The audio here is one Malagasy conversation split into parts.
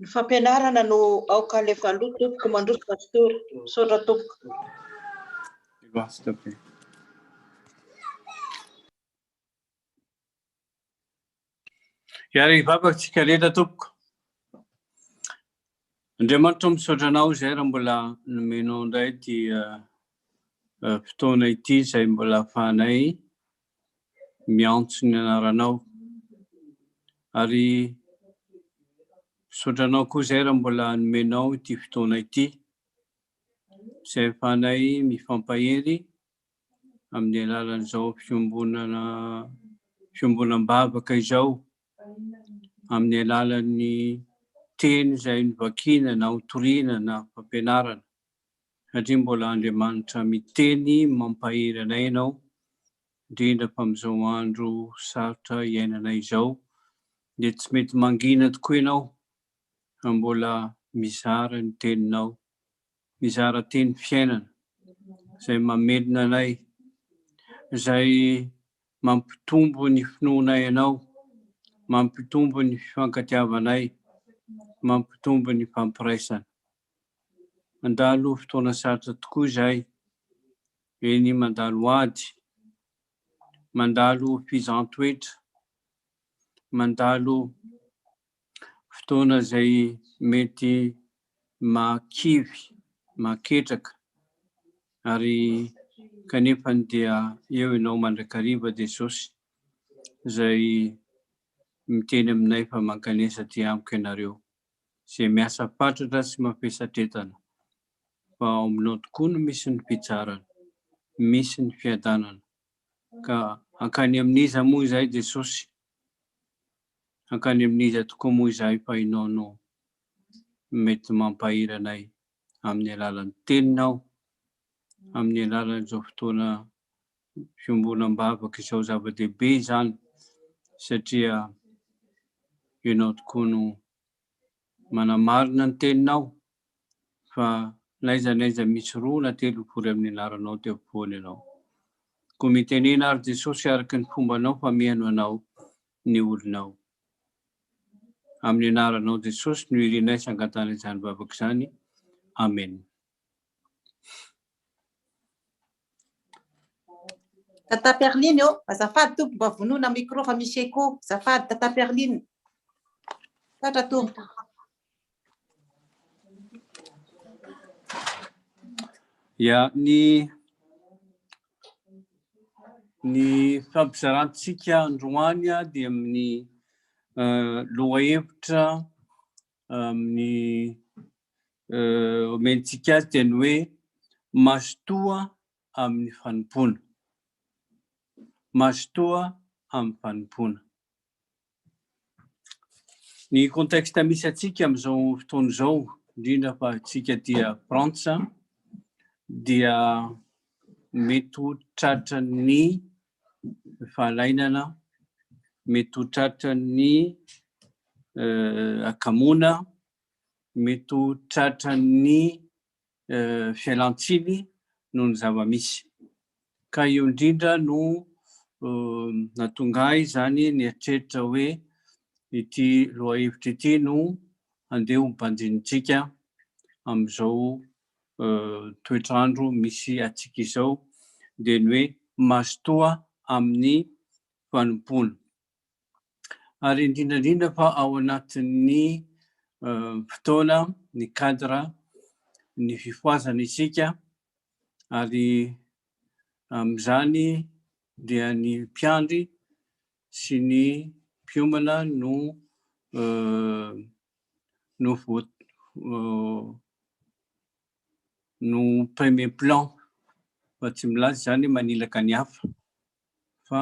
Ny fampianarana no aoka alefa aloha tompoko mandroso pastora misaotra tompoko. Hiary vavaka tsika rehetra tompoko. Andriamanitra misaotra anao izay raha mbola nomenao indray ity fotoana ity izay mbola afahanay miantso ny anaranao ary misaotra anao koa izay raha mbola nomenao ity fotoana ity izay ahafahanay mifampahery amin'ny alalan'izao fiombonana fiombonam-bavaka izao amin'ny alalan'ny teny izay novakiana na hotoriana na fampianarana. satria mbola Andriamanitra miteny mampahery anay ianao, indrindra fa amin'izao andro sarotra iainanay izao dia tsy mety mangina tokoa ianao raha mbola mizara ny teninao, mizara teny fiainana izay mamelona anay, izay mampitombo ny finoanay anao, mampitombo ny fifankatiavanay, mampitombo ny fampiraisana. Mandalo fotoana sarotra tokoa izay eny mandalo ady, mandalo fihizan-toetra, mandalo fotoana izay mety mahakivy, mahaketraka ary kanefa dia eo ianao mandrakariva Jesosy izay miteny aminay fa mankanesa aty amiko ianareo. izay miasa fatratra sy mavesatretana, fa ao aminao tokoa no misy ny fitsarana, misy ny fiadanana, ka hankany amin'iza moa izahay Jesosy? Hankany amin'iza tokoa moa izahay fa Ianao no mety mampahery anay amin'ny alalan'ny Teninao, amin'ny alalan'izao fotoana fiombonam-bavaka izao zava-dehibe izany satria ianao tokoa no manamarina ny teninao fa n'aiza n'aiza misy roa na telo mivory amin'ny anaranao teo ampovoany ianao. Koa mitenena ary Jesosy araka ny fombanao fa mihaino anao ny olonao. Amin'ny anaranao Jesosy no irinay sangatana izany vavaka izany. Amen. Tata Perline ô, azafady tompoko mba vonoina micro fa misy écho, azafady Tata Perline. Tatra tompoko. Ya, ny ny fampizarantsika androany dia amin'ny lohahevitra amin'ny omentsika azy dia ny hoe mazotoa amin'ny fanompoana. Mazotoa amin'ny fanompoana. Ny contexte misy antsika amin'izao fotoana izao, indrindra fa antsika dia Frantsa, dia mety ho tratran'ny fahalainana mety ho tratran'ny akamoana, mety ho tratran'ny fialan-tsiny noho ny zava-misy. Ka io indrindra no nahatonga ahy izany nieritreritra hoe ity lohahevitra ity no handeha ho banjinintsika amin'izao toetr'andro misy antsika izao dia ny hoe mazotoa amin'ny fanompoana. Ary indrindra indrindra fa ao anatin'ny fotoana, ny cadre, ny fifohazana isika ary amin'izany dia ny mpiandry sy ny mpiomana no no no premier plan fa tsy milaza izany hoe manilaka ny hafa fa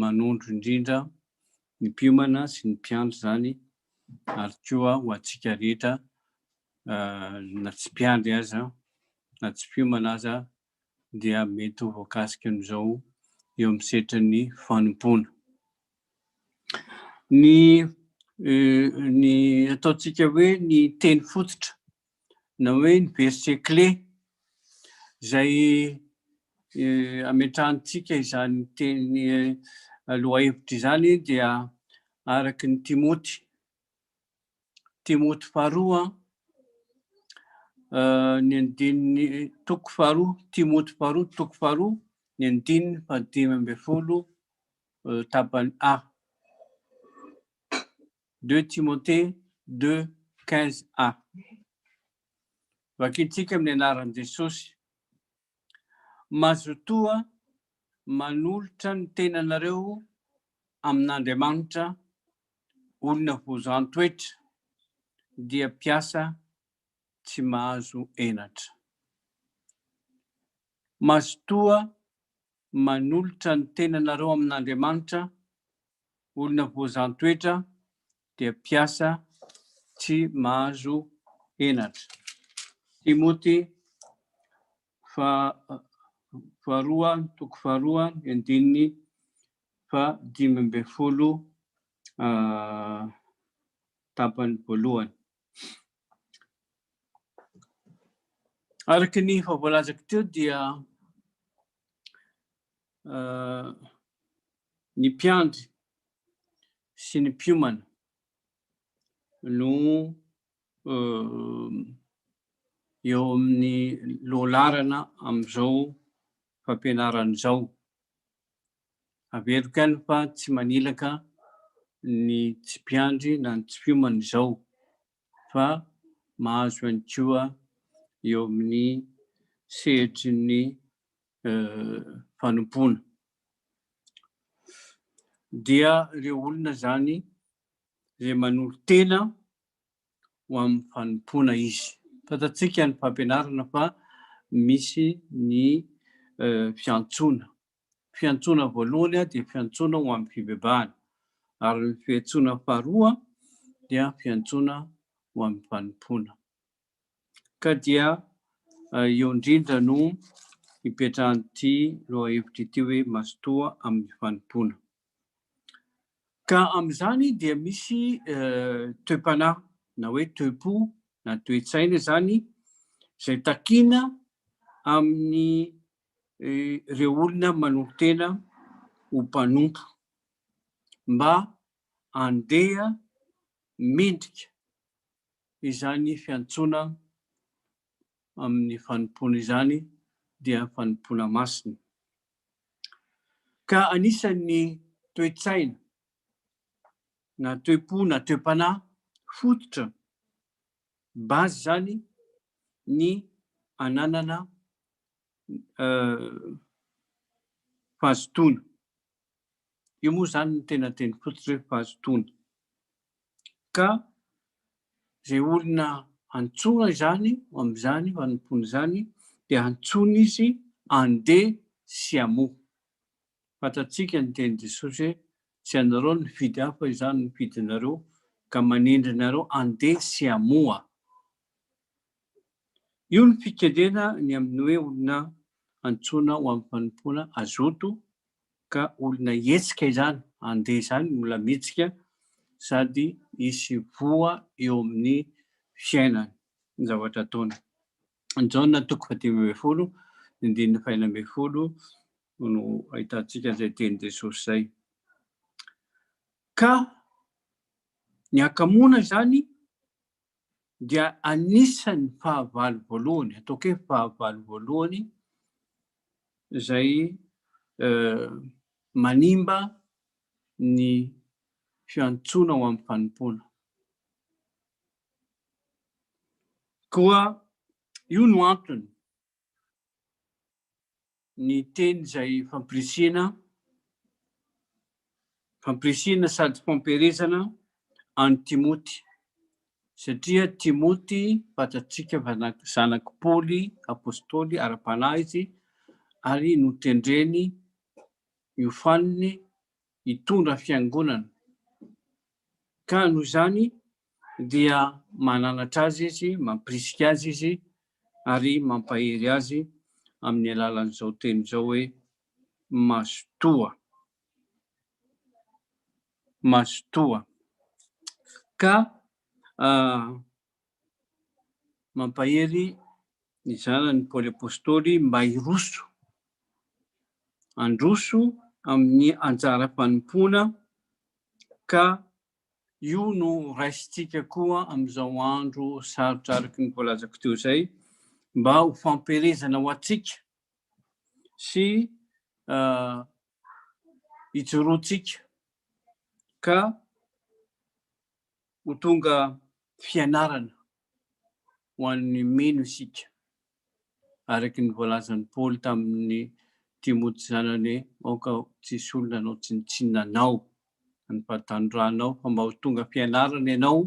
manondro indrindra ny mpiomana sy ny mpiandry izany ary koa ho antsika rehetra na tsy mpiandry aza na tsy mpiomana aza dia mety ho voakasika amin'izao eo amin'ny setrin'ny fanompoana. Ny ny ataontsika hoe ny teny fototra na hoe ny verset clé izay ametrahantsika izany teny lohahevitra izany dia araka ny Timoty Timoty faharoa, eh, ny andininy toko faharoa, Timoty faharoa, toko faharoa, ny andininy fahadimy ambin'ny folo, eh, tapany A. 2 Timothée 2, 15 A. Vakintsika amin'ny anaran'i Jesosy. Mazotoa manolotra ny tenanareo amin'Andriamanitra, olona hozan-toetra, dia mpiasa tsy mahazo henatra. Mazotoa manolotra ny tenanareo amin'Andriamanitra, olona hozan-toetra, dia mpiasa tsy mahazo henatra. Timoty faharoa toko faharoa ny andininy fahadimy ambin'ny folo tapany voalohany. Araka ny efa voalazako teo dia ny mpiandry sy ny mpiomana no eo amin'ny lohalarana amin'izao fampianarana izao. Averiko ihany fa tsy manilaka ny tsy mpiandry na ny tsy mpiomana izao fa mahazo ihany koa eo amin'ny sehatry ny fanompoana. dia ireo olona izany izay manolo-tena ho amin'ny fanompoana izy. Fantatsika ny fampianarana fa misy ny eh, fiantsoana. Fiantsoana voalohany dia fiantsoana ho amin'ny fibebahana, ary ny fiantsoana faharoa dia fiantsoana ho amin'ny fanompoana. ka dia eo indrindra no ipetrahan'ity lohahevitra ity hoe mazotoa amin'ny fanompoana. Ka amin'izany dia misy toe-panahy na hoe toe-po na toe-tsaina izany izay takiana amin'ny ireo olona manolo-tena ho mpanompo mba handeha mendrika Izany fiantsoana amin'ny fanompoana izany dia fanompoana masina. Ka anisan'ny toe-tsaina na toe-po na toe-panahy fototra, base, izany ny ananana fahazotoana. Io moa izany no tena teny fototra hoe fahazotoana. Ka izay olona antsoina izany ho amin'izany fanompoana izany dia antsoina izy andeha sy hamoha. Fantatsika ny tenin'i Jesosy hoe tsy anareo no nifidy ahy fa izaho no nifidy anareo ka manendry anareo andeha sy hamoha. Io ny fikendrena ny amin'ny hoe olona antsoina ho amin'ny fanompoana hazoto ka olona hihetsika izany, handeha izany no mbola mihetsika sady hisy voa eo amin'ny fiainany ny zavatra ataony. Ny Jaona toko fahadimy ambin'ny folo, ny andininy fahenina ambin'ny folo no ahitantsika izay teny Jesosy izay. Ka ny hakamoana izany dia anisan'ny fahavalo voalohany, ataoko hoe fahavalo voalohany izay manimba ny fiantsoana ho amin'ny fanompoana. Koa io no antony ny teny izay fampirisihina, fampirisihina sady fampielezana an'i Timoty, satria Timoty fantatsika fa zanak'i Paoly apostoly ara-panahy izy ary notendreny hiofaniny hitondra fiangonana, ka noho izany dia mananatra azy izy, mampirisika azy izy ary mampahery azy amin'ny alalan'izao teny izao hoe, Mazotoa. Mazotoa. Ka mampahery ny zanany Paoly Apostoly mba hiroso, handroso amin'ny anjara fanompoana ka io no raisintsika koa amin'izao andro sarotra araka ny voalazako teo izay mba ho fampielezana ho antsika sy uh, ijoroantsika ka Ho tonga fianarana ho an'ny mino isika, araka ny voalazan'i Paoly tamin'i Timoty zanany, Aoka tsy hisy olona hanao tsinontsinona anao, na ny fahatanoranao, fa mba ho tonga fianarana ianao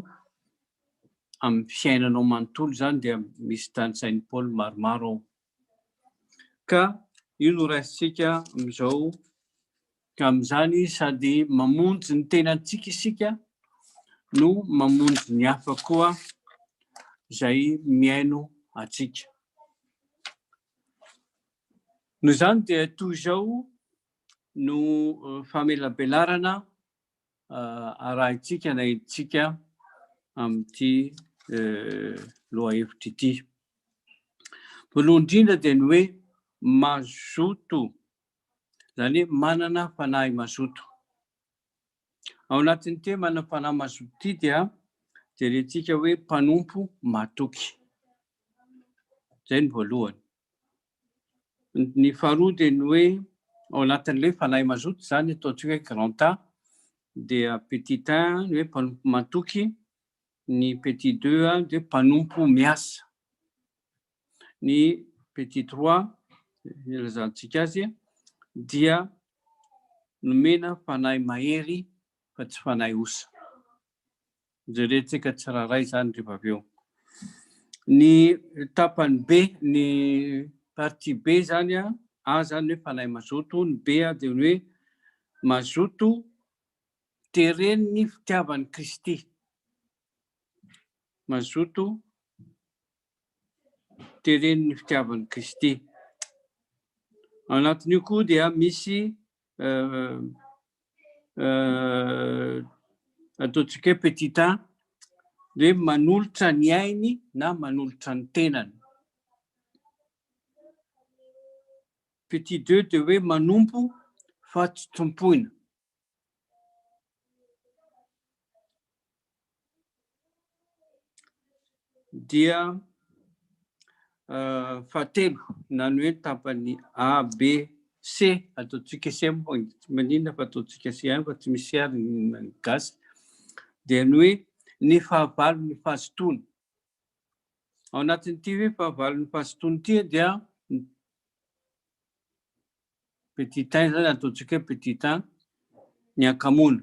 amin'ny fiainanao manontolo. Izany dia misy tanisain'i Paoly maromaro ao Ka io no raisintsika amin'izao. Ka amin'izany sady mamonjy ny tenantsika isika no mamonjy ny hafa koa izay mihaino antsika. Noho izany dia toy izao no famelabelarana arahintsika na entintsika amin'ity lohahevitra ity. Voalohany indrindra dia ny hoe mazoto, izany hoe manana fanahy mazoto. Ao anatin'ny te manana fanahy mazoto ity dia jerentsika hoe mpanompo matoky. Izay ny voalohany. Ny faharoa dia ny hoe ao anatin'ilay fanahy mazoto izany ataontsika hoe grand A dia petit un ny hoe mpanompo matoky, ny petit deux dia hoe mpanompo miasa, ny petit trois ilazantsika azy dia nomena fanahy mahery fa tsy fanahy osa. Hojerentsika tsirairay izany rehefa avy eo. Ny tapany be, ny partie be izany an, A izany hoe fanahy mazoto, ny B dia ny hoe mazoto teren'ny fitiavan'i Kristy. Mazoto teren'ny fitiavan'i Kristy. Ao anatin'io koa dia misy ataontsika hoe petit a dia manolotra ny ainy na manolotra ny tenany. Petit deux dia hoe manompo fa tsy tompoina. dia fahatelo nany hoe tapany A, B, C ataontsika C moa tsy maninona fa ataontsika C fa tsy misy C ny gasy dia ny hoe ny fahavalon'ny fahazotoana. Ao anatin'ity hoe fahavalon'ny fahazotoana ity dia petit 1 izany ataontsika hoe petit 1 ny ankamoana.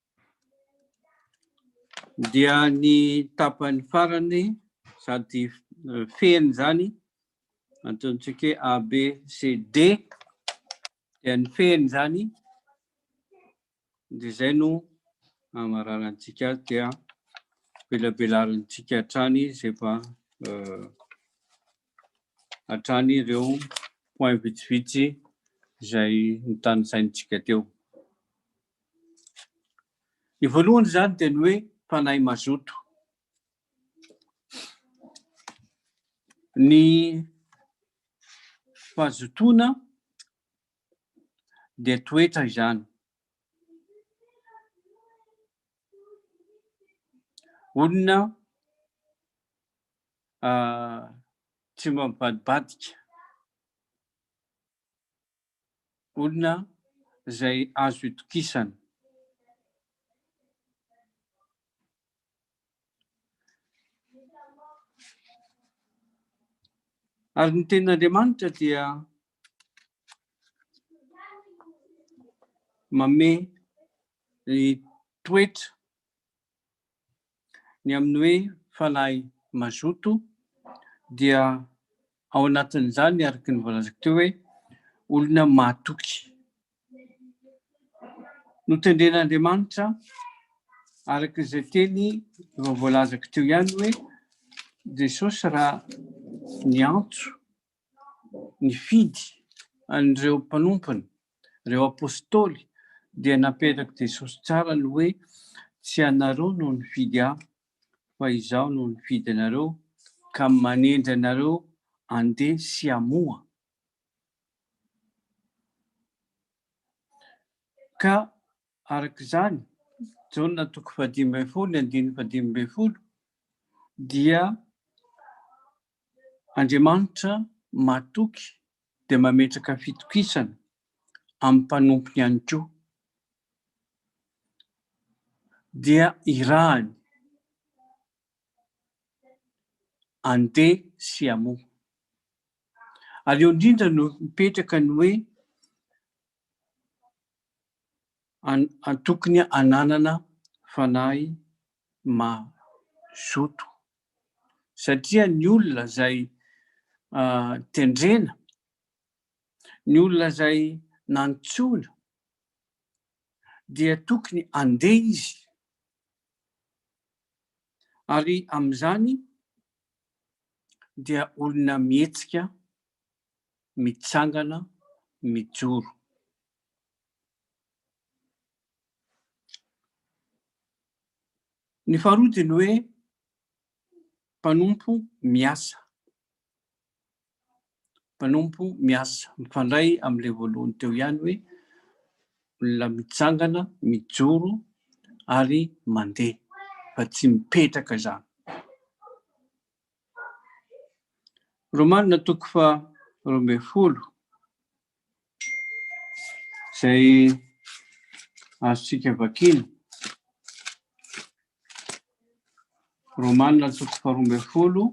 Dia ny tapany farany sady fehiny izany, antontsika hoe A, B, C, D, dia ny fehiny izany, dia izay no amararantsika azy dia belabelarintsika hatrany izay efa hatrany ireo point vitsivitsy izay notanisaintsika teo. Ny voalohany izany dia ny hoe fanahy mazoto. Ny fahazotoana dia toetra izany. Olona ah, tsy mba mivadibadika. olona izay azo itokisana. Ary ny tenin'Andriamanitra dia mame ny toetra Ny amin'ny hoe fanahy mazoto dia ao anatin'izany araka ny voalazako teo hoe olona mahatoky. Notendren'Andriamanitra araka izay teny efa voalazako teo ihany hoe Jesosy raha niantso nifidy an'ireo mpanompony, ireo apostoly, dia napetrak'i Jesosy tsara ny hoe, Tsy ianareo no nifidy ahy, fa izaho no nifidy anareo ka manendry anareo handeha sy hamoha. Ka araka izany, Jaona toko fahadimy ambin'ny folo, ny andininy fahadimy ambin'ny folo, dia Andriamanitra mahatoky dia mametraka fitokisana amin'ny mpanompony ihany koa. Dia irahany andeha sy hamoha. Ary eo indrindra no mipetraka ny hoe tokony hananana fanahy mazoto. satria ny olona izay tendrena, ny olona izay nantsoina dia tokony andeha izy ary amin'izany dia olona mihetsika mitsangana mijoro. Ny faharoa dia ny hoe mpanompo miasa. Mpanompo miasa. Mifandray amin'ilay voalohany teo ihany hoe olona mitsangana, mijoro ary mandeha fa tsy mipetraka izany. Romanina toko faharoa ambin'ny folo izay azontsika vakina. Romanina antoko faharoa ambin'ny folo.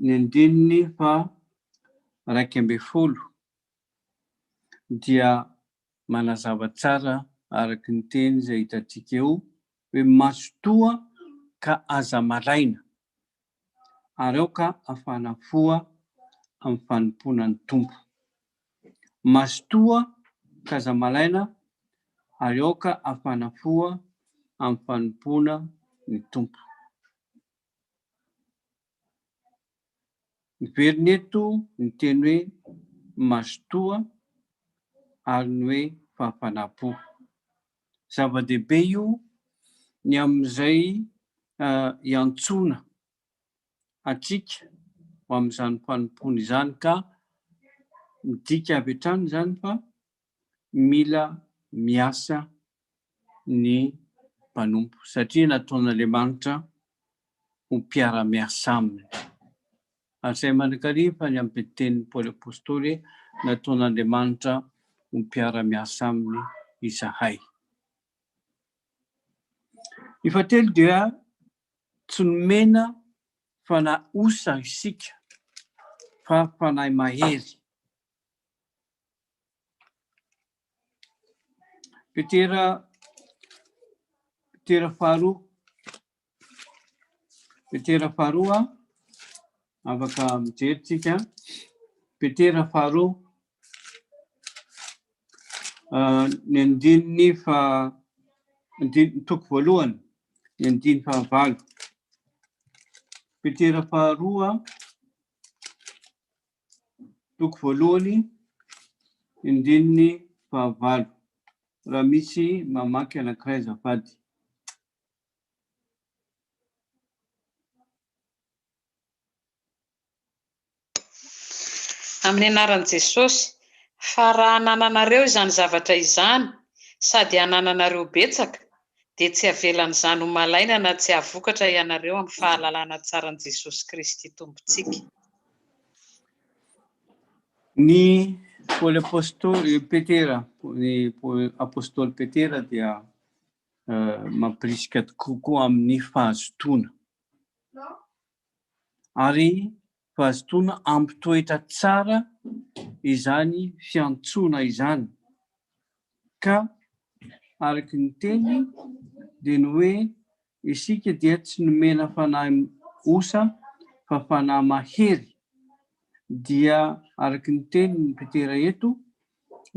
Ny andininy fa raika ambin'ny folo. dia manazava tsara araka ny teny izay hitantsika eo hoe mazotoa ka aza maraina ary aoka hafana foha amin'ny fanompoana ny Tompo. Mazotoa ka aza maraina ary aoka hafana foha amin'ny fanompoana ny Tompo. Miverina eto ny teny hoe mazotoa ary ny hoe fahafanam-po. Zava-dehibe io ny amin'izay iantsoana antsika ho amin'izany fanompoana izany ka midika avy hatrany izany fa mila miasa ny mpanompo satria nataon'Andriamanitra ho mpiara-miasa aminy. Hasahy manankaria fa ny amin'ny tenin'i Paoly Apostoly, nataon'Andriamanitra ho mpiara-miasa aminy izahay. Ny fahatelo dia tsy nomena fanahy osa isika fa fanahy mahery. Petera, Petera faharoa, Petera faharoa, afaka mijery tsika, Petera faharoa, ah, ny andininy fa andininy toko voalohany, ny andiny fahavalo. Petera faharoa, toko voalohany, andininy fahavalo, raha misy mamaky anankiray azafady. Amin'ny anaran'i Jesosy, fa raha anananareo izany zavatra izany, sady anananareo betsaka, dia tsy avelan'izany ho malaina na tsy hahavokatra ianareo amin'ny fahalalana tsaran'i Jesosy Kristy Tompontsika. Ny Paoly Apôstôly Petera, ny Apôstôly Petera dia uh, mampirisika kokoa amin'ny fahazotoana. Ary fahazotoana ampitoetra tsara izany fiantsoana izany. Ka araka ny teny dia ny hoe isika dia tsy nomena fanahy osa fa fanahy mahery. Dia araka ny tenin'i Petera eto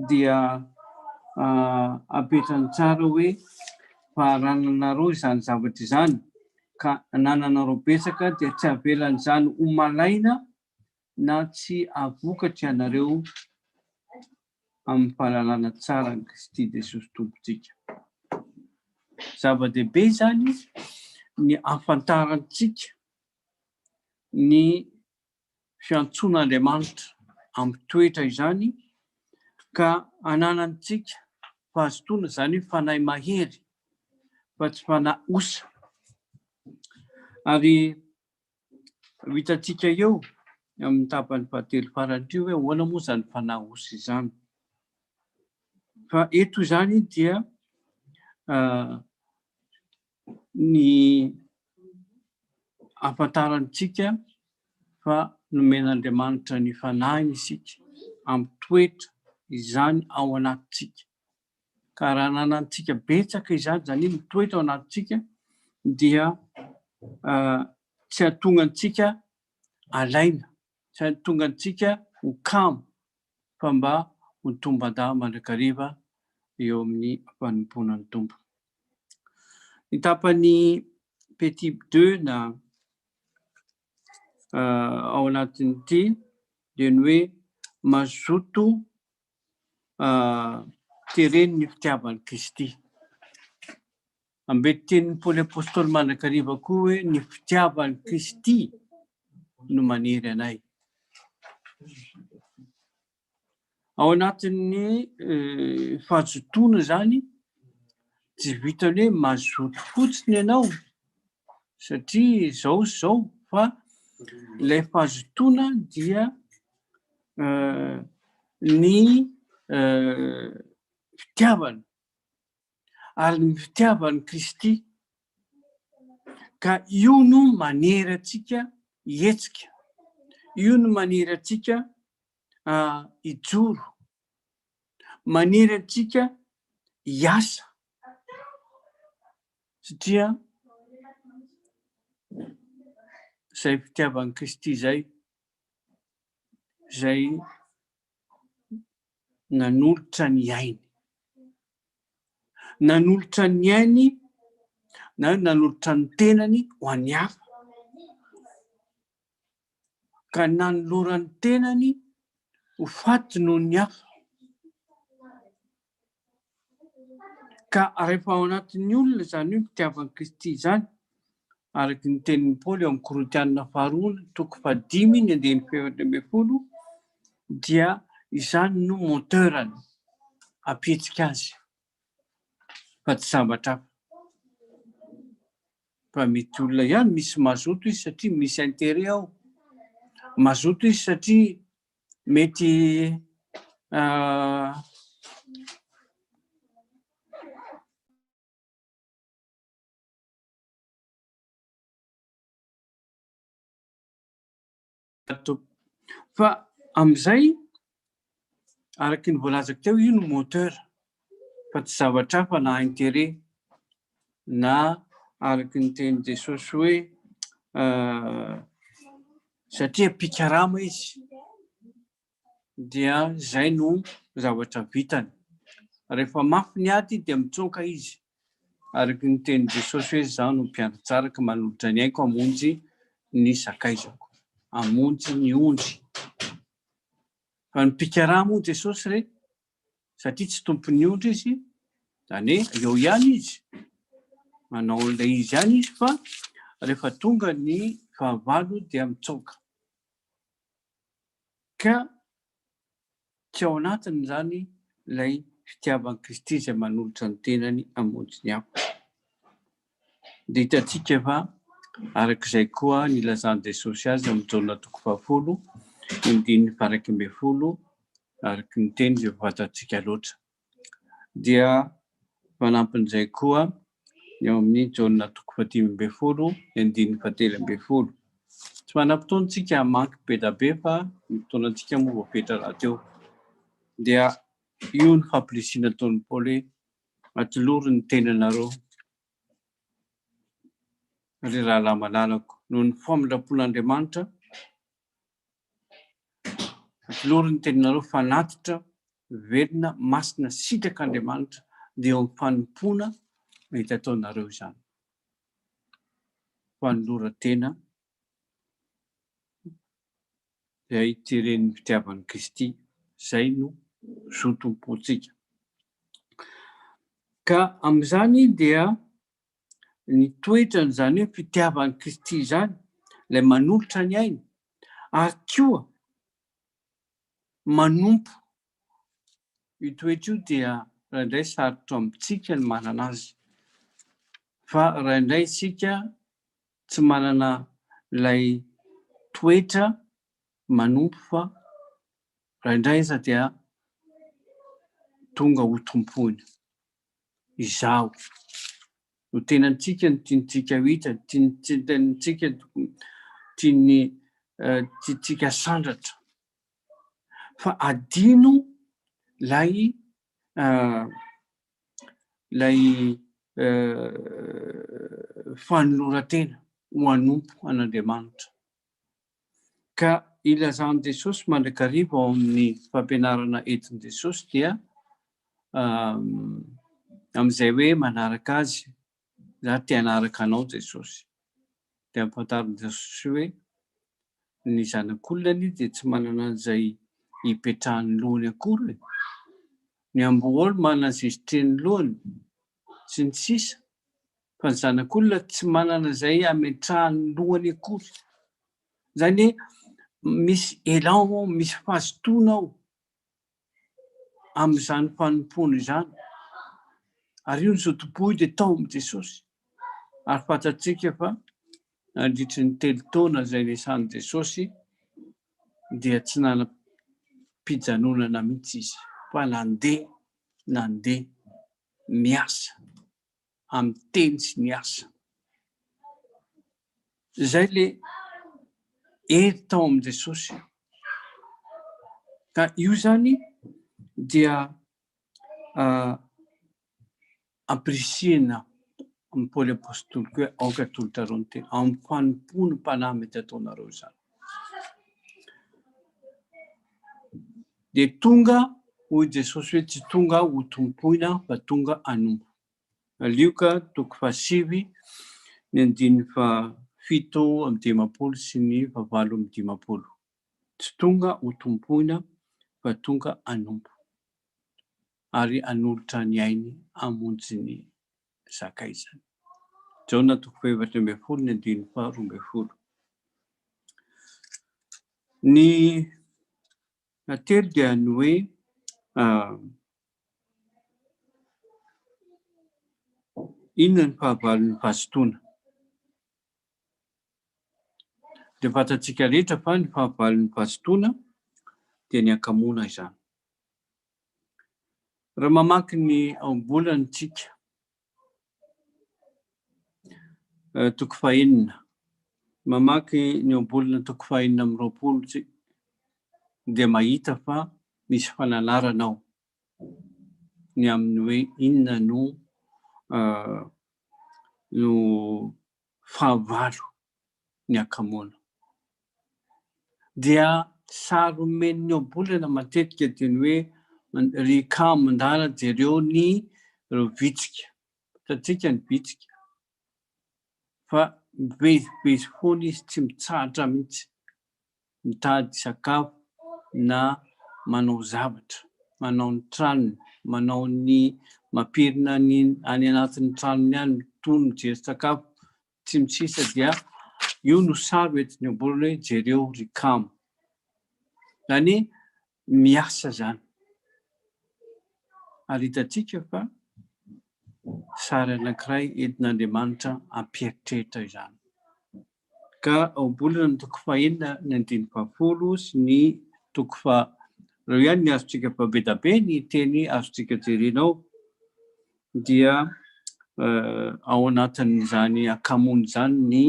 dia apetrany tsara hoe fa raha nanarao izany zavatra izany ka anananareo betsaka dia tsy avelan'izany ho malaina Na tsy hahavokatra ianareo amin'ny fahalalana tsara an'i Kristy Jesosy Tompontsika. Zava-dehibe izany ny hahafantarantsika ny fiantsoan'Andriamanitra amin'ny toetra izany ka hananantsika fahazotoana, izany hoe fanahy mahery fa tsy fanahy osa. Ary Ho hitantsika eo amin'ny tapany fahatelo farany io hoe ahoana moa izany fanahy osy izany. Fa eto izany dia uh, ny afantarantsika fa nomen'Andriamanitra ny fanahiny isika, amin'ny toetra izany ao anatintsika. Ka raha ananantsika betsaka izany, izany hoe mitoetra ao anatintsika, dia tsy hahatonga antsika alaina, tsy hahatonga antsika ho kamo, fa mba ho tombadahy mandrakariva eo amin'ny fanompoana ny Tompo. Ny tapany petit deux na ao anatin'ity dia ny hoe mazoto teren'ny ny fitiavan'i Kristy. Ambety tenin'i Paoly Apôstôly mandrakariva koa hoe ny fitiavan'i Kristy no manery anay. Ao anatin'ny eh, fahazotoana izany, tsy vitany hoe mazoto fotsiny ianao satria izao sy izao fa ilay fahazotoana dia ny fitiavana ary ny fitiavan'i Kristy ka io no manery antsika hihetsika, io no manery antsika hijoro, manery antsika hiasa satria izay fitiavan'i Kristy izay izay nanolotra ny ainy. Nanolotra ny ainy na nanolotra ny tenany ho an'ny hafa. Ka nanoloran'ny tenany ho faty noho ny hafa. Ka rehefa ao anatin'ny olona izany hoe fitiavan'i Kristy izany, araka ny tenin'i Paoly ao amin'ny Korintiana faharoa toko fahadimy ny andininy fahenina ambin'ny folo, dia izany no moteur-ny hampihetsika azy fa tsy zavatra hafa. Fa mety olona ihany misy mazoto izy satria misy intérêt ao, mazoto izy satria mety fa amin'izay araky ny voalazako teo io ny moteur fa tsy zavatra hafa na intérêt na araka ny tenin'i Jesosy hoe satria mpikarama izy dia izay no zavatra vitany. Rehefa mafy ny ady dia mitsoaka izy. Araka ny tenin'i Jesosy hoe izaho no mpiandratsaraka manolotra ny aiko hamonjy ny sakaizako, hamonjy ny ondry. Fa ny mpikarama hoy Jesosy re satria tsy tompon'ny ondry izy, izany hoe eo ihany izy, manao an'ilay izy ihany izy fa rehefa tonga ny fahavalo dia mitsoaka. Ka tsy ao anatiny izany ilay fitiavan'i Kristy izay manolotra ny tenany hamonjy ny hafa. Dia hitantsika fa araka izay koa nilazan'i Jesosy azy amin'ny Jaona toko fahafolo, andininy faha-iraika ambin'ny folo, araka ny teny izay efa fantatsika loatra. Dia fanampin'izay koa ny ao amin'ny Jaona toko fahadimy ambin'ny folo, andininy fahatelo ambin'ny folo. Tsy manam-potoana isika hamaky be dia be fa ny fotoanantsika moa voafetra rahateo. Dia io ny fampirisihina nataon'i Paoly hoe Atolory ny tenanareo, ry rahalahy malalako, noho ny famindram-pon'Andriamanitra, atolory ny tenanareo fanatitra, velona, masina, sitrak'Andriamanitra, dia eo amin'ny fanompoana mety ataonareo izany. Fanoloran-tena. dia ity renin'ny fitiavan'i Kristy izay no zo tompontsika. Ka amin'izany dia ny toetrany izany hoe fitiavan'i Kristy izany ilay manolotra ny ainy ary koa manompo io toetra io dia raindray sarotra amintsika ny manana azy fa raindray isika tsy manana ilay toetra manompo fa indraindray aza dia tonga ho tompony. Izaho. Ny tenantsika no tiantsika hita, ny tenantsika no tian'ny tiantsika sandratra. Fa adino ilay ilay fanoloran-tena ho anompo an'Andriamanitra. Ka ilazan'i Jesosy mandrakariva ao amin'ny fampianarana entin'i Jesosy dia amin'izay hoe manaraka azy za te hanaraka anao Jesosy. Dia ampahafantarin'i Jesosy hoe ny zanak'olona anie dia tsy manana an'izay hipetrahan'ny lohany akory e! Ny amboholy manana izay sitren'ny lohany sy ny sisa fa ny zanak'olona tsy manana izay hametrahan'ny lohany akory. Izany hoe misy élan ao, misy fazotoana ao. amin'izany fanompoana izany. Ary io ny zotom-po io dia tao amin'i Jesosy. Ary fantatsika fa nandritry ny telo taona izay niasan'i Jesosy dia tsy nanam-pijanonana mihitsy izy fa nandeha, nandeha niasa. amin'ny teny sy ny asa. Izay le hery tao amin'i Jesosy. Ka io zany dia uh, ampirisihina amin'ny Paoly Apôstôly koa aoka tolotareo ny tena amin'ny fanompo ny mpanahy mety ataonareo izany. Dia tonga, hoy Jesosy hoe tsy tonga aho ho tompoina fa tonga hanompo. Lioka toko fahasivy, ny andininy fahafito amby dimampolo sy ny fahavalo amby dimampolo. Tsy tonga ho tompoina fa tonga hanompo ary hanolotra ny ainy hamonjy ny sakaizany. Jaona toko fahaefatra ambin'ny folo ny andininy faharoa ambin'ny folo. Ny atelo dia ny hoe ah, inona ny fahavalon'ny fahasotoana. Dia fantatsika rehetra fa ny fahavalon'ny fahasotoana dia ny akamoana izany. Raha mamaky ny aom-bolany tsika, toko fahenina, mamaky ny aom-bolana toko fahenina amby roapolo tsika dia mahita fa misy fananarana ao ny amin'ny hoe inona no fahavalo ny hakamoana. Dia sary omen'ny ohabolana matetika dia ny hoe ry kamo ndala jereo ny ireo vitsika. Hitantsika ny vitsika fa mivezivezy foana izy tsy mitsahatra mihitsy. mitady sakafo na manao zavatra, manao ny tranony, manao ny mampirina ny any anatin'ny tranony any, mitohy mijery sakafo, sy ny sisa dia io no sary ho entin'ny ohabolana hoe jereo ry kamo. Izany hoe miasa izany. Ary hitantsika fa sary anankiray entin'Andriamanitra hampieritreritra izany. ka ohabolana ny toko fahenina, ny andininy fahafolo sy ny toko fa reo ihany ny azontsika fa be da be ny teny azontsika jerena ao dia ao anatin'izany akamoana izany ny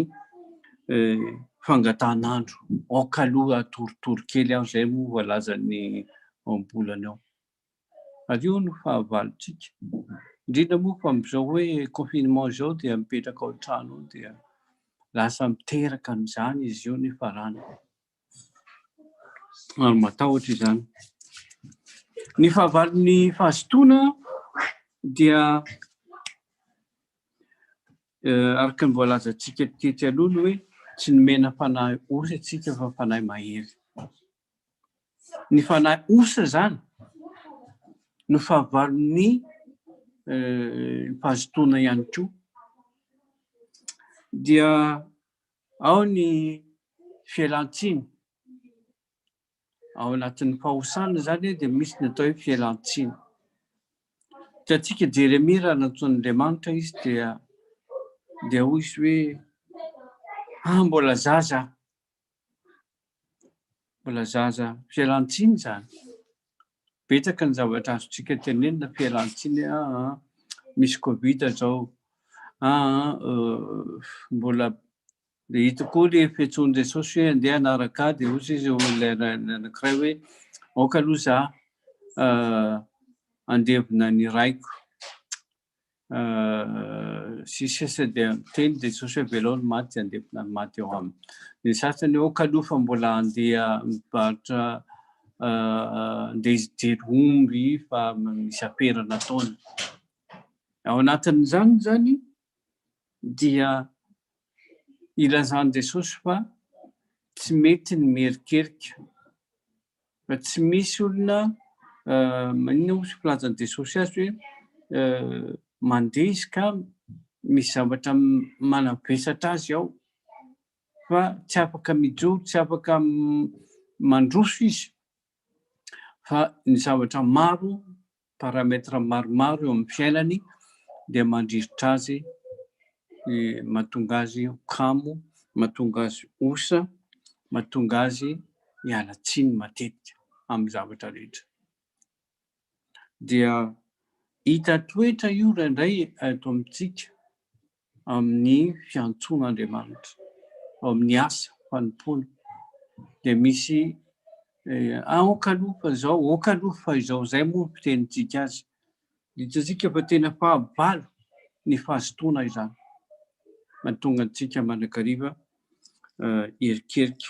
fangatahan'andro, aoka aloha atorotoro kely aho izay moa voalazan'ny ohabolana ao. ary io no fahavalontsika, indrindra moa fa amin'izao hoe confinement izao dia mipetraka ao an-trano ao dia lasa miteraka an'izany izy io ny farany ary matahotra izany. Ny fahavalon'ny fahazotoana dia araka ny voalazantsika tetsy aloha ny hoe tsy nomena fanahy ory antsika fa fanahy mahery. ny fanahy osa izany no fahavalon'ny mpahazotoana ihany koa. Dia ao ny fialantsiny. Ao anatin'ny fahosana izany dia misy ny atao hoe fialantsiny. Hitantsika Jeremia raha nantsoin'Andriamanitra izy dia dia hoy izy hoe ah mbola zaza Mbola zaza fialantsiny izany. Betsaka ny zavatra azontsika tenenina fialantsiny ah, ah misy covid zao ah, ah euh, mbola de hitako koa le fetsoan'i Jesosy hoe andeha anaraka ahy de hozy izy olona anankiray hoe aoka aloha za uh, andevina ny raiko sy sisa dia miteny dia Jesosy hoe velao ny maty handevina ny maty ao aminy. Ny sasany hoe kaloha fa mbola handeha mivarotra handeha hijery omby fa misy afera nataony. Ao anatin'izany izany dia ilazan'i Jesosy fa tsy mety ny miherikerika tsy misy olona maninona moa filaza ny Jesosy azy hoe mandeha izy ka misy zavatra manavesatra azy ao fa tsy afaka mijoro, tsy afaka mandroso izy fa ny zavatra maro paramètre maromaro eo amin'ny fiainany dia mandrisitra azy mahatonga azy ho kamo, mahatonga azy osa, mahatonga azy hiala tsiny matetika amin'ny zavatra rehetra. Dia hita toetra io indraindray eto amintsika, amin'ny fiantsoan'Andriamanitra, ao amin'ny asa fanompoana, dia misy aoka aloha fa izao, aoka aloha fa izao, izay moa ny fitenintsika azy. Hitantsika fa tena fahavalo ny fahazotoana izany. Mahatonga antsika mandrakariva erikerika,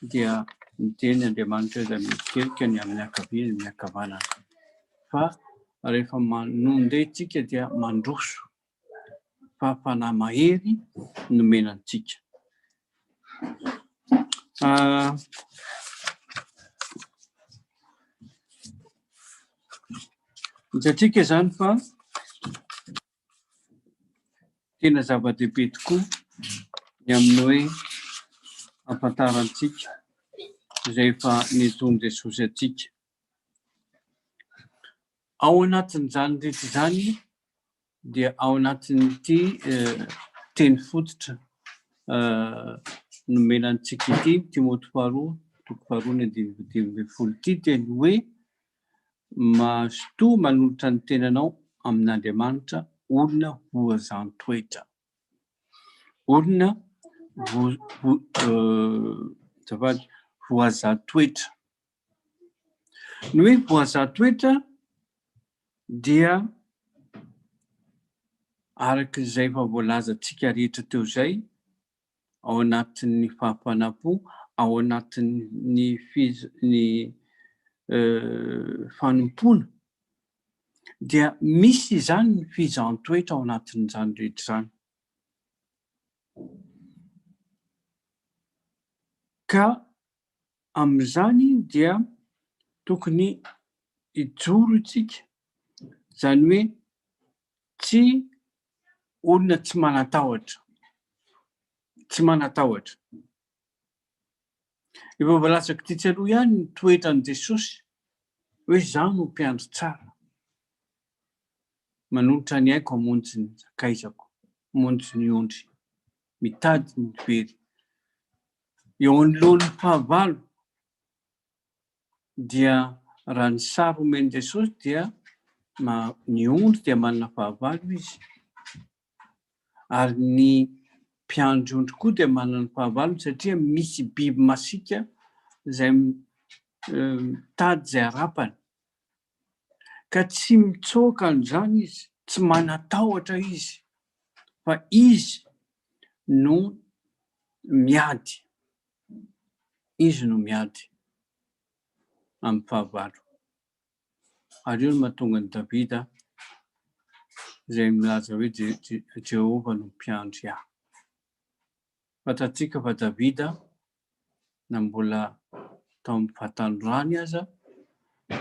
dia miteny Andriamanitra izay merikerika ny amin'ny ankavia, ny ankavanana. Fa rehefa manonde tsika dia mandroso fa fanahy mahery nomena antsika. Ah, Hitantsika izany fa tena zava-dehibe tokoa ny amin'ny hoe afantarantsika izay efa nitony Jesosy antsika. Ao anatin'izany rehetra izany dia ao anatin'ity teny fototra nomena antsika ity ny Timoty faharoa toko faharoa ny andininy faha dimy ambin'ny folo ity dia ny hoe mazotoa manolotra ny tenanao amin'Andriamanitra olona voazantoetra. Olona voa- azafady, voazantoetra. Ny hoe boazà toetra dia araka izay efa voalazantsika rehetra teo izay ao anatin'ny fahafanam-po, ao anatin'ny ny fanompoana dia misy izany ny fizahàn-toetra ao anatin'izany rehetra izany. Ka amin'izany dia tokony hijoro isika, izany hoe tsy olona tsy manan-tahotra, tsy manan-tahotra. Efa voalazako tetsy aloha ihany ny toetran'i Jesosy hoe izaho no mpiandry tsara, manolotra ny aiko hamonjy ny sakaizako, hamonjy ny ondry, mitady ny very. Eo anoloan'ny fahavalo dia raha ny sary omen'i Jesosy dia ny ondry dia manana fahavalo izy ary ny mpiandry ondry koa dia manana fahavalo satria misy biby masiaka izay mitady izay harapany. ka tsy mitsoaka an'izany izy, tsy manatahotra izy fa izy no miady, izy no miady amin'ny fahavalo. Ary io no mahatonga an'i Davida izay milaza hoe Jehovah no mpiandry ahy. Fantatsika fa Davida na mbola tao amin'ny fahatandroany aza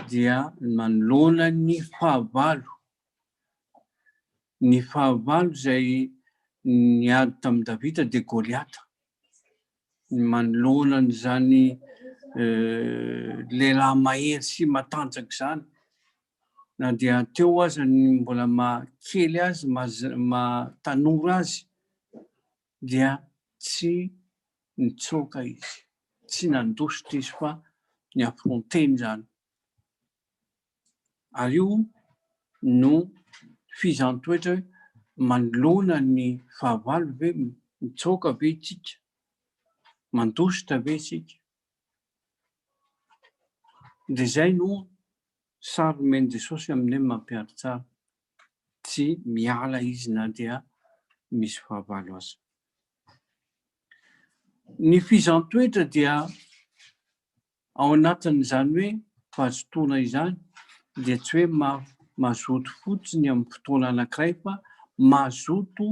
dia nanoloana ny fahavalo. Ny fahavalo izay niady tamin'i Davida dia Goliata. Ny manoloana an'izany lehilahy mahery sy matanjaka izany, na dia teo aza ny mbola maha kely azy, maha tanora azy, dia tsy nitsoaka izy, tsy nandositra izy fa ni affronter izany. Ary io no fihizan-toetra hoe manoloana ny fahavalo ve mitsoaka ve isika, mandositra ve isika. Dia izay no sary nomen'i Jesosy aminay mampiharitsary. tsy miala izy na dia misy fahavalo aza. Ny fizan-toetra dia ao anatin'izany hoe fahazotoana izany dia tsy hoe mazoto fotsiny amin'ny fotoana anankiray fa mazoto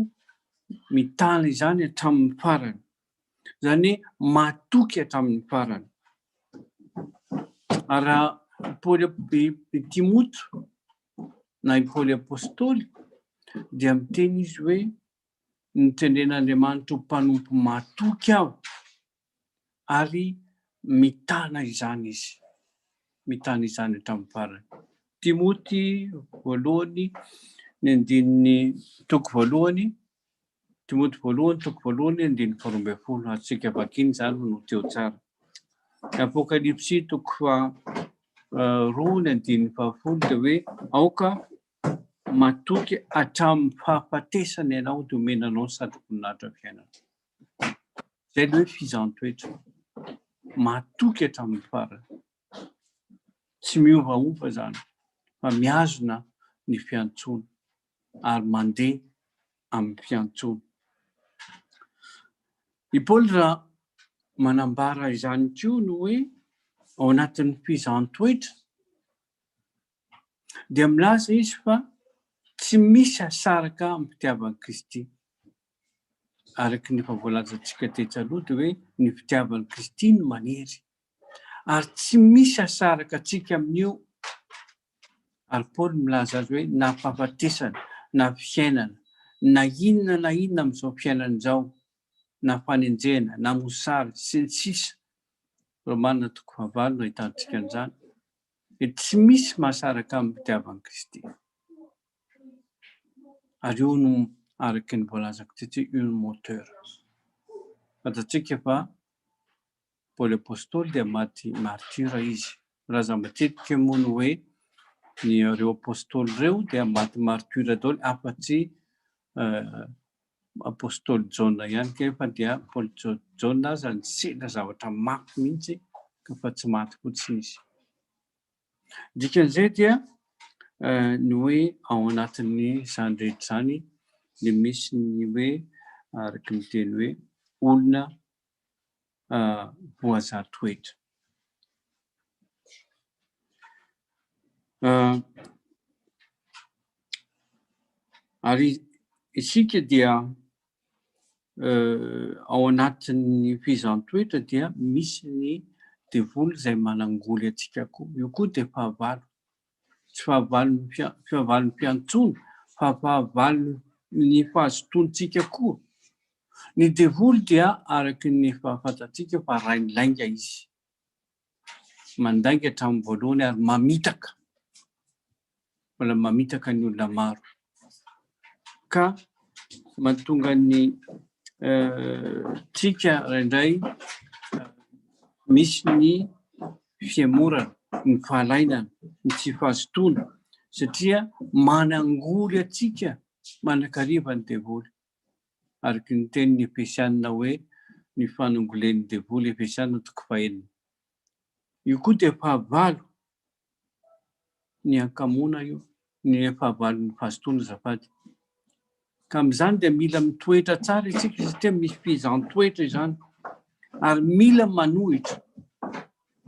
mitana izany hatramin'ny farany. Izany hoe matoky hatramin'ny farany. Ary raha Paoly Timoty na i Paoly Apostoly dia miteny izy hoe notendren'Andriamanitra ho mpanompo matoky aho ary mitana izany izy. Mitana izany hatramin'ny farany. Timoty voalohany ny andininy toko voalohany Timoty voalohany toko voalohany andininy faharoa ambin'ny folo azontsika vakina izany no teo tsara. Ny Apokalypsy toko faharoa ny andininy fahafolo dia hoe aoka matoky hatramin'ny fahafatesana ianao dia omena anao ny satroboninahitra fiainana. Izay ilay hoe fizaham-toetra. Matoky hatramin'ny farany. Tsy miovaova izany fa mihazona ny fiantsoana ary mandeha amin'ny fiantsoana. I Paoly raha manambara izany koa ny hoe ao anatin'ny fizahàn-toetra dia milaza izy fa tsy misy asaraka amin'ny fitiavan'i Kristy. Araka ny efa voalazantsika tetsy aloha dia hoe ny fitiavan'i Kristy no manery ary tsy misy asaraka antsika amin'io ary Paoly milaza azy hoe na fahafatesana na fiainana na inona na inona amin'izao fiainana izao na fanenjehana na mosary sy ny sisa Romana toko fahavalo no ahitantsika an'izany dia tsy misy mahasaraka amin'ny fitiavan'i Kristy ary io no araka ny voalazako tetsy io no moteur fantatsika fa Paoly Apostoly dia maty martyr izy. Milaza matetika moa ny hoe ny ireo Apostoly ireo dia maty martyr daholo afa tsy Apostoly Jaona ihany kanefa dia Paoly Jaona aza nisedra zavatra mafy mihitsy fa tsy maty fotsiny izy. Dikan'izay dia ny hoe ao anatin'ny izany rehetra izany dia misy ny hoe araka ny teny hoe olona voazaha toetra. Ary isika dia ao anatin'ny fizaham-toetra dia misy ny devoly izay manangoly antsika koa. Io koa dia fahavalo. tsy fahavalon'ny fahavalon'ny mpiantsoana fa fahavalon'ny fahazotoantsika koa. Ny devoly dia araka ny efa fantatsika fa rain'ny lainga izy. Mandainga hatramin'ny voalohany ary mamitaka. Mbola mamitaka ny olona maro. ka mahatonga ny trika indray misy ny fihemorana, ny fahalainana, ny tsy fahazotoana satria manangory antsika manakariva ny devoly. Araka ny tenin'ny Efesianina hoe ny fanongolen'ny devoly, Efesianina toko fahenina. Io koa dia fahavalo ny hankamoana io, ny fahavalon'ny vazotoana azafady. Ka amin'izany dia mila mitoetra tsara isika satria misy fehezan-toetra izany. Ary mila manohitra,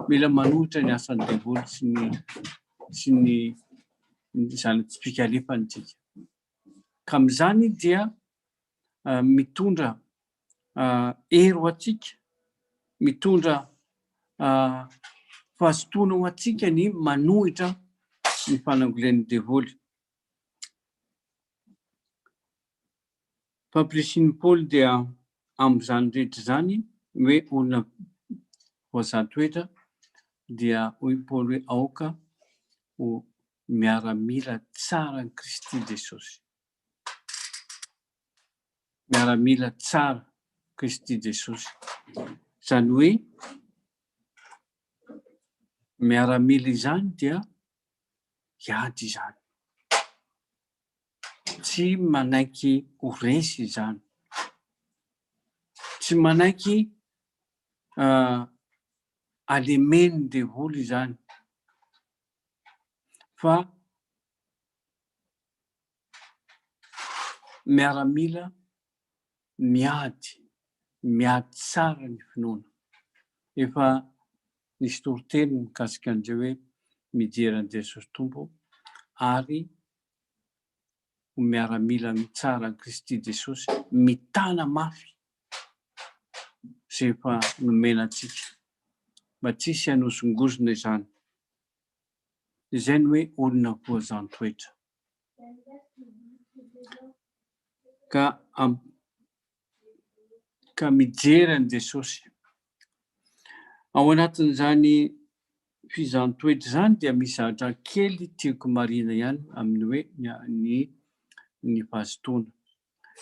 mila manohitra ny asan'ny devoly sy ny sy ny zana-tsipikalefany tsika. Ka amin'izany dia mitondra hery ho antsika, mitondra fahazotoana ho antsika ny manohitra ny fanangolian'ny devoly. Fampirisiny Paoly dia amin'izany rehetra izany hoe olona voazaha toetra dia hoy Paoly hoe aoka ho miaramila tsaran'i Kristy Jesosy. miaramila tsara Kristy Jesosy. Izany hoe miaramila izany dia hiady izany. Tsy manaiky ho resy izany. Tsy manaiky uh, alemen'ny devoly izany. Fa miaramila miady, miady tsara ny finoana. Efa nisy toriteny mikasika an'izay hoe mijery an'i Jesosy Tompo ary ho miaramila tsara an'i Kristy Jesosy mitana mafy izay efa nomena antsika mba tsy hisy hanozongozona izany. izay no hoe olona voazan-toetra. Ka am, ka mijery an'i Jesosy. Ao anatin'izany fizan-toetra izany dia misy zavatra kely tiako marina ihany amin'ny hoe ny ny fahazotoana.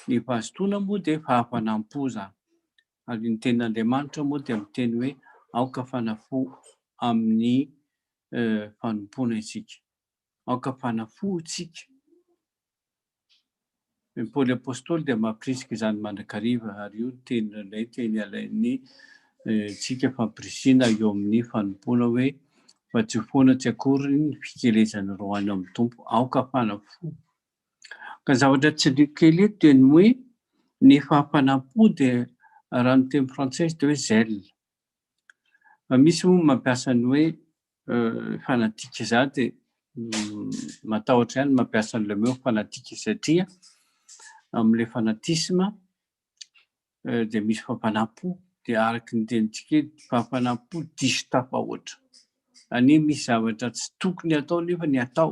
Ny fahazotoana moa dia fahafanam-po izany. Ary ny tenin'Andriamanitra moa dia miteny hoe, Aoka fanafo amin'ny fanompoana isika. Aoka fanafo isika. I Paoly Apostoly dia mampirisika izany mandrakariva, ary io no teny indray teny alain'ny tsika fampirisihina eo amin'ny fanompoana hoe, Vatsio foana tsy akory ny fikelezan'ny roa any amin'ny Tompo. Aoka fanafo Ka zavatra tsy liako kely eto dia ny hoe ny fahafanam-po dia raha ny teny frantsay dia hoe zèle. Fa misy moa mampiasa ny hoe fanatique za dia matahotra ihany ny mampiasa an'ilay mot fanatique satria amin'ilay fanatisme dia misy fahafanam-po dia araka ny tenintsika eto dia fahafanam-po diso tafahoatra. Anie misy zavatra tsy tokony atao nefa ny atao.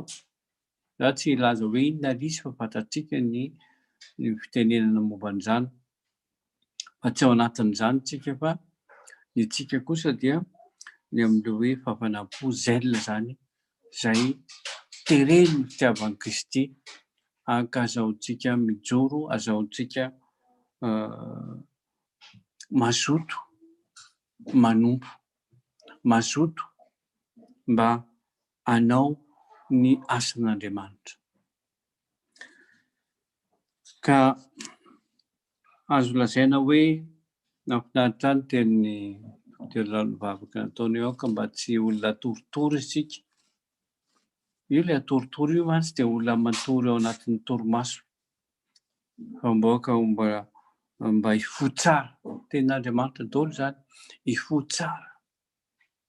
Za tsy hilaza hoe inona ary izy fa fantatsika ny fitenenana momba an'izany fa tsy ao anatin'izany tsika fa ny antsika kosa dia ny amin'ireo hoe fafanam-po zèle izany izay teren'ny fitiavan'i Kristy ankazahoantsika mijoro, azahoantsika mazoto manompo, mazoto mba hanao ny asan'Andriamanitra. Ka azo lazaina hoe nahafinaritra ahy ny tenin'ny Dokotera Ralovavaka nataony eo ka mba tsy olona atorotoro isika. Io ilay atorotoro io mantsy dia olona matory ao anatin'ny torimaso fa mba ka mba hifoha tsara. Tenin'Andriamanitra daholo izany, hifoha tsara.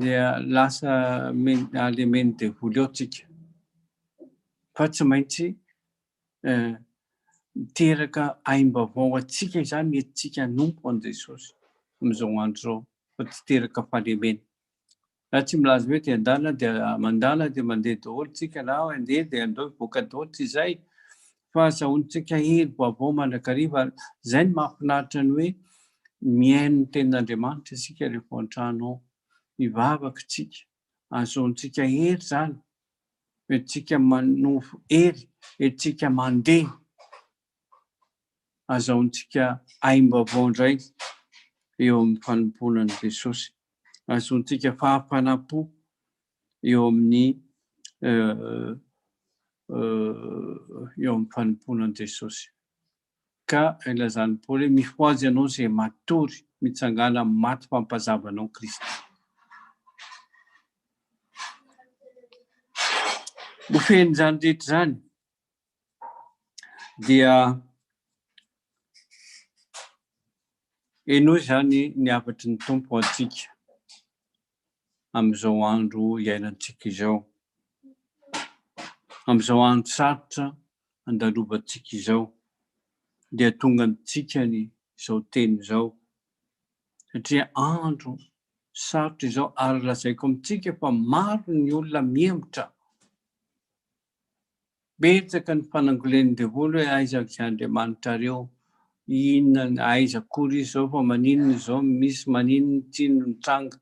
dia lasa alemen'ny devoly ao tsika fa tsy maintsy eh, miteraka aim-baovao atsika izany etintsika hanompo an'i Jesosy amin'izao andro izao fa tsy teraka fahalemena na tsy milaza hoe dia andala dia mandala dia mandeha daholo tsika na andeha dia andao hivoaka daholo tsy izay fa azahoantsika hery vaovao mandrakariva ary izay no mahafinaritra ny hoe mihaino ny tenin'Andriamanitra isika rehefa ao an-trano ao, mivavaka isika, azahoantsika hery izany, entintsika manovo hery, entintsika mandeha, azahoantsika aim-baovao indray eo amin'ny fanompoana an'i Jesosy, azahoantsika fahafanam-po eo amin'ny eo amin'ny fanompoana an'i Jesosy. Ka ilazan'i Paoly hoe mifohaza ianao izay matory, mitsangàna amin'ny maty fampazavanao Kristy. Ho fen'izany rehetra izany dia henoy izany ny hafatry ny tompo ho antsika amin'izao andro iainantsika izao, amin'izao andro sarotra andalovantsika izao, dia tonga amintsika ny izao teny izao, satria andro sarotra izao ary lazaiko amintsika fa maro ny olona mihemotra. Betsaka ny fanangolen'ny devoly hoe aiza izay Andriamanitrareo, inona, aiza akory izy izao fa maninona izao no misy, maninona, tsia no nitranga.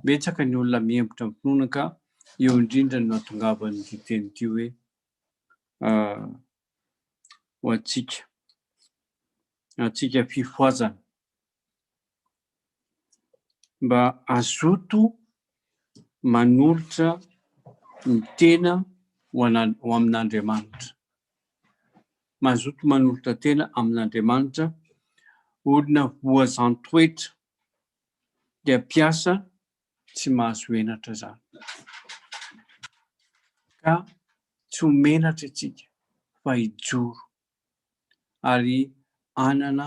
Betsaka ny olona mihembotra amin'ny finoana ka eo indrindra no nahatongavan'ity teny ity hoe ho antsika, antsika fifohazana. Mba hazoto manolotra ny tena ho amin'Andriamanitra. Mazoto manolotra tena amin'Andriamanitra, olona voazan-toetra, dia mpiasa tsy mahazo henatra izany. Ka tsy ho menatra isika fa hijoro ary hanana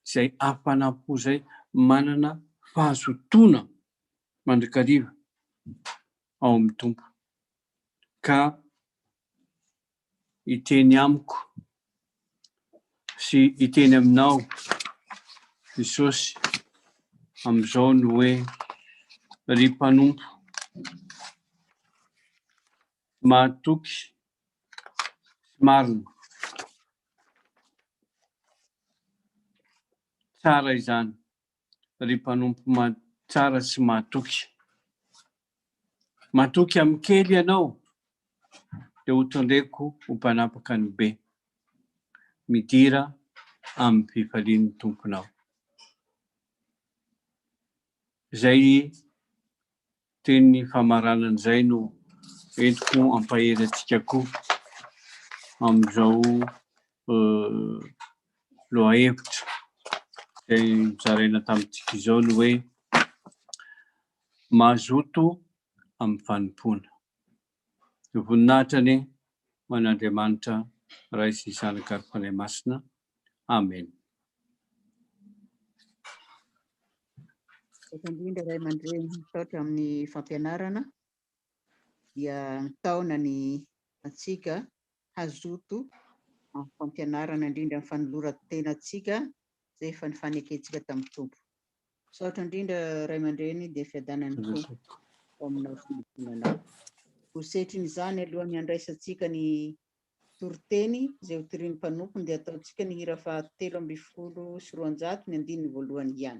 izay hafanam-po izay, manana fahazotoana mandrakariva ao amin'ny Tompo. Ka hiteny amiko sy hiteny aminao Jesosy amin'izao ny hoe, Ry mpanompo, Tsy mahatoky sy marina. Tsara izany ry mpanompo tsara sy mahatoky. Matoky amin'ny kely ianao dia ho tondreko ho mpanapaka ny be. Midira amin'ny fifalian'ny Tomponao. Izay Teny famaranana izay no entiko hampahery antsika koa amin'izao lohahevitra izay nozaraina tamintsika izao ny hoe, Mazoto amin'ny fanompoana. Dia voninahitra anie ho an' Andriamanitra Ray sy Zanaka ary Fanahy Masina. Amena. Misaotra indrindra Ray aman-dReny, misaotra amin'ny fampianarana, dia mitaona ny antsika hazoto amin'ny fampianarana indrindra ny fanoloran-tenantsika izay efa nifanekentsika tamin'ny Tompo. Misaotra indrindra ray aman-dreny dia fiadanan'ny Tompo ao aminao sy ny zonanao. Ho setrin'izany alohan'ny handraisantsika ny toriteny izay ho tirian'ny mpanompony dia ataontsika ny hira fahatelo ambin'ny folo sy roanjato ny andininy voalohany ihany.